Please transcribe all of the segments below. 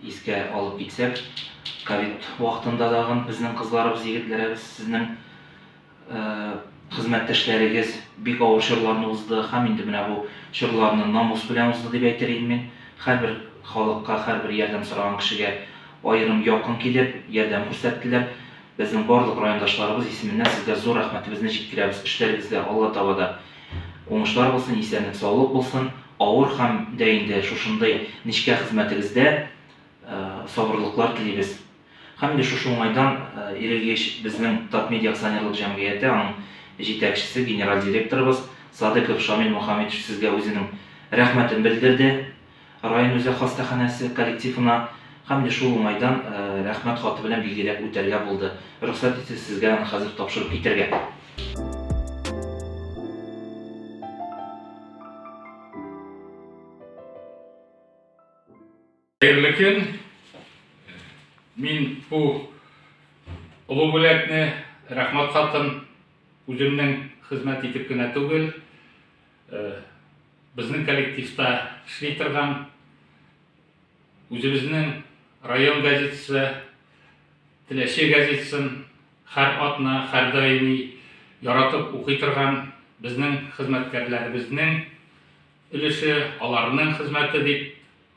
Искә алып китсәк, ковид вакытында тагын безнең кызларыбыз, егетләребез, сезнең хезмәттәшләрегез бик авыр чорларны узды һәм инде менә бу чорларны намус белән узды дип әйтер идем мин. Һәрбер халыкка, һәрбер ярдәм сораган кешегә аерым якын килеп, ярдәм күрсәттеләр. Безнең барлык райондашларыбыз исеменнән сезгә зур рәхмәтебезне җиткерәбез. Эшләрегезгә Алла таба да Уңышлар булсын, исәнлек саулык булсын, авыр хәм дә инде шушындый нечкә хезмәтегездә сабырлыклар телибез. Хәм инде шушы уңайдан Ирелгеч безнең Татмедиа акционерлык җәмгыяте аның җитәкчесе, генераль директорыбыз Садыков Шамил Мухаметович сезгә үзенең рәхмәтен белдерде. Район үзәк хастаханәсе коллективына һәм дә шул уңайдан Рәхмәт хаты белән билгеләп үтәргә булды. Рөхсәт итсәз, сезгә аны хәзер тапшырып китәргә. Хәерле көн! Мин бу олы бүләкне, Рәхмәт хатын үземнең хезмәт итеп кенә түгел, Безнең коллективта эшли торган үзебезнең район газетасы Теләче газетасын хәр атна, хәр даими яратып укый торган безнең хезмәткәрләребезнең өлеше, аларның хезмәте дип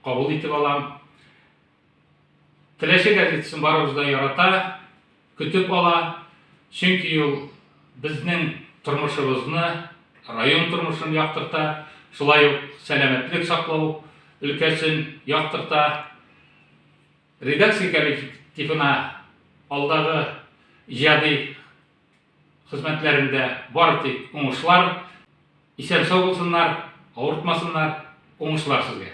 кабул итеп алам. Теләче газетасын барыбыз да ярата, көтеп ала, чөнки ул безнең тормышыбызны, район тормышын яктырта, шулай ук сәламәтлек саклау өлкәсен яктырта. Редакция коллективына алдагы иҗади хезмәтләрендә бары тик уңышлар, исән-сау булсыннар, авыртмасыннар, уңышлар сезгә!